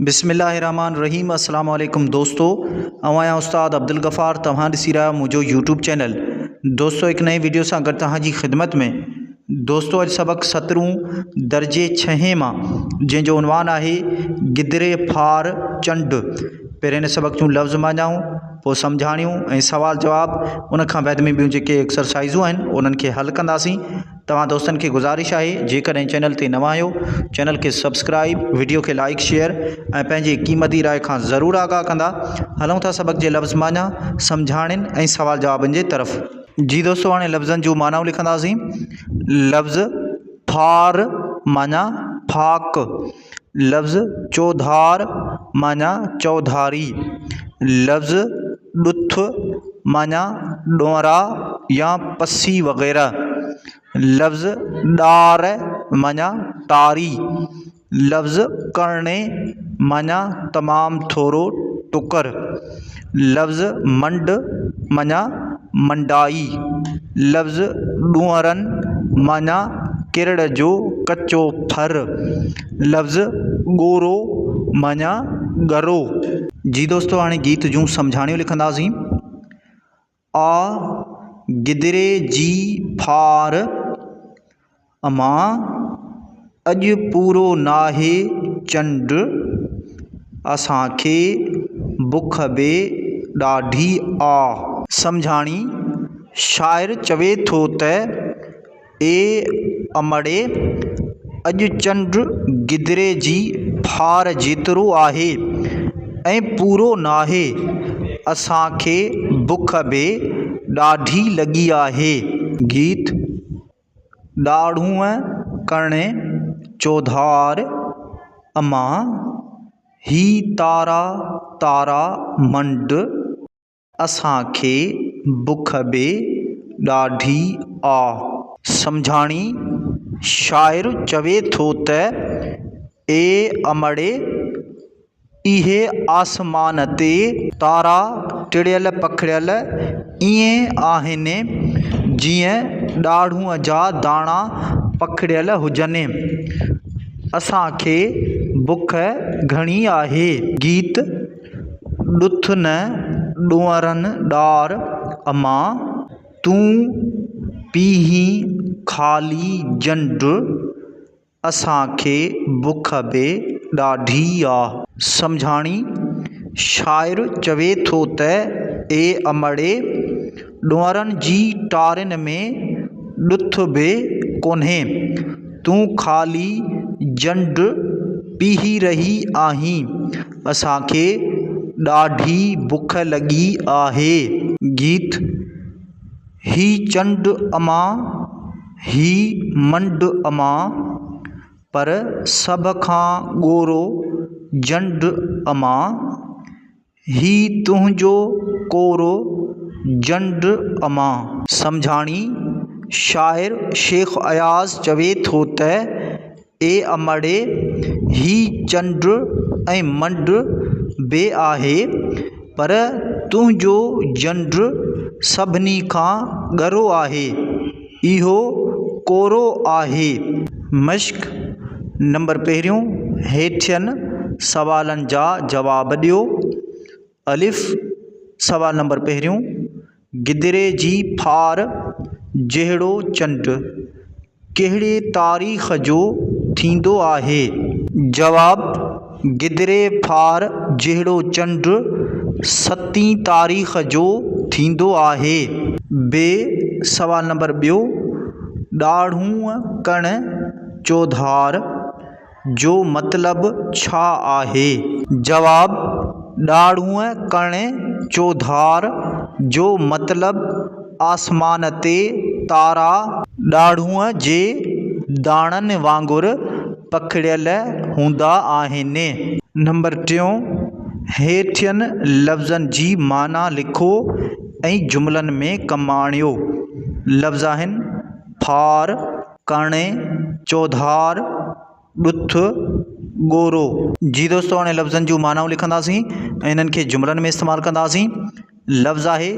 بسم الله الرحمن الرحيم السلام عليڪم دوستو آئون آهيان استاد عبدالغفار توهان ڏسي رهيا آهيو منهنجو يوٽيوب چينل دوستو هڪ نئين ويڊيو سان گڏ توهان جي خدمت ۾ دوستو اڄ سبق سترون درجي ڇهين مان جنهن جو عنوان آهي گدري ڦار چنڊ پهرين هن سبق جون لفظ مانيائون پوء سمجهاڻيون ۽ سوال جواب ان کان بعد ۾ ٻيون جيڪي ايڪسرسائزون آهن انهن کي حل ڪنداسين توهان دوستن کي گذارش آهي جيڪڏهن چينل تي نوان آهيو چينل کي سبسڪرائب وڊيو کي لائڪ شيئر ۽ پنهنجي قيمتي راء کان ضرور آگاهه ڪندا هلون ٿا سبق جي لفظ معنيٰ سمجهاڻين ۽ سوال جوابن جي طرف جي دوستو هاڻي لفظن جون معنائون لکنداسين لفظ ڦار معنيٰ ڦاڪ لفظ چوڌار معنيٰ چوڌاري، لفظ ڏٿ معنيٰ ڏونرا يا پسي وغيره، لفظ ڏار معنيٰ ٽاري، لفظ ڪرڻي معنيٰ تمام ٿورو ٽڪر، لفظ منڊ معنيٰ منڊائي، لفظ ڏونئرن معنيٰ ڪرڙ جو ڪچو ڦر، لفظ ڳورو معنيٰ ڳرو. جي دوستو هاڻي گيت جون سمجهاڻيون لکنداسين. آء گدري جي ڦار مان اڄ پورو ناهي چنڊ، اسان کي بک به ڏاڍي آ. سمجهاڻي، شاعر چوي ٿو ته. اي امڙي! اڄ چنڊ گدري جي ڦار جيترو آهي ۽ پورو ناهي. اسان کي بک به ڏاڍي لڳي آهي. گيت، ڏاڙهونء ڪرڻي چوڌار امان، هي تارا تارا منڊ. اسان کي بک به ڏاڍي آ. سمجهاڻي، شاعر چوي ٿو ته، اي امڙي! اهي آسمان تي تارا ٽڙيل پکڙيل ائين آهن، جيئن ڏاڙهون جا داڻا پکڙيل هجن. اسان کي بک گهڻي آهي. گيت. ڏٿ نه ڏونئرن ڏار امان، تون پيهين خالي جنڊ، اسان کي بک به ڏاڍي آ. سمجهاڻي، شاعر چوي ٿو ته اي امڙي! ڏونئرن جي ٽارين ۾ ڏٿ به ڪونهي. تون خالي جنڊ پيهي رهي آهين. اسان کي ڏاڍي بک لڳي آهي. گيت، هي چنڊ امان، هي منڊ امان، پر سڀ کان ڳورو جنڊ امان، هي تنهنجو ڪورو جنڊ امان. سمجهاڻي، شاعر شيخ اياز چوي ٿو ته، اي امڙي! هي چنڊ ۽ منڊ به آهي، پر تنهنجو جنڊ سڀني کان ڳرو آهي. اهو ڪورو آهي. مشق نمبر پهريون، هيٺين سوالن جا جواب ڏيو. الف، سوال نمبر پهريون، گدري جي ڦار جهڙو چنڊ ڪهڙي تاريخ جو ٿيندو آهي؟ جواب. گدري ڦار جهڙو چنڊ ستين تاريخ جو ٿيندو آهي. ب سوال نمبر ٻيو ڏاڙهون ڪڻ چوڌار جو مطلب ڇا آهي؟ جواب، ڏاڙهون ڪڻ چوڌار جو مطلب آسمان تي تارا ڏاڙهون جي داڻن وانگر پکڙيل هوندا آهن. نمبر ٽيون، هيٺين لفظن جي معنيٰ لکو ۽ جملن ۾ ڪم آڻيو. لفظ آهن، ڦار، ڪاڻي، چوڌار، ڏٿ، ڳورو. جي دوستو هاڻي لفظن جون معنائون لکنداسين ۽ انهن کي جملن ۾ استعمال ڪنداسين. لفظ آهي،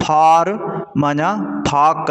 ڦار معنيٰ ڦاڪ.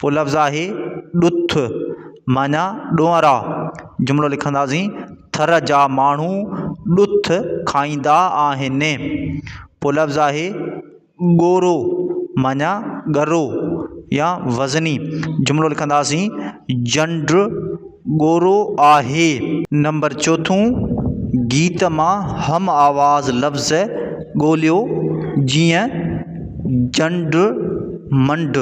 پوء لفظ آهي ڏٿ معنيٰ ڏونئرا جملو لکنداسين ٿر جا ماڻهو ڏٿ کائيندا آهن پوء لفظ آهي ڳورو معنيٰ ڳرو يا وزني جملو لکنداسين جنڊ ڳورو آهي. نمبر چوٿون، گيت مان هم آواز لفظ ڳوليو جيئن، جنڊ، منڊ.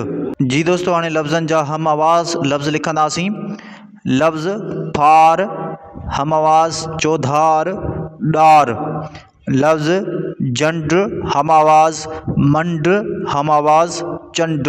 جي دوستو هاڻي لفظن جا هم آواز لفظ لکنداسين. لفظ، ڦار، هم آواز، چوڌار، ڏار. لفظ، جنڊ، هم آواز، منڊ، هم آواز، چنڊ.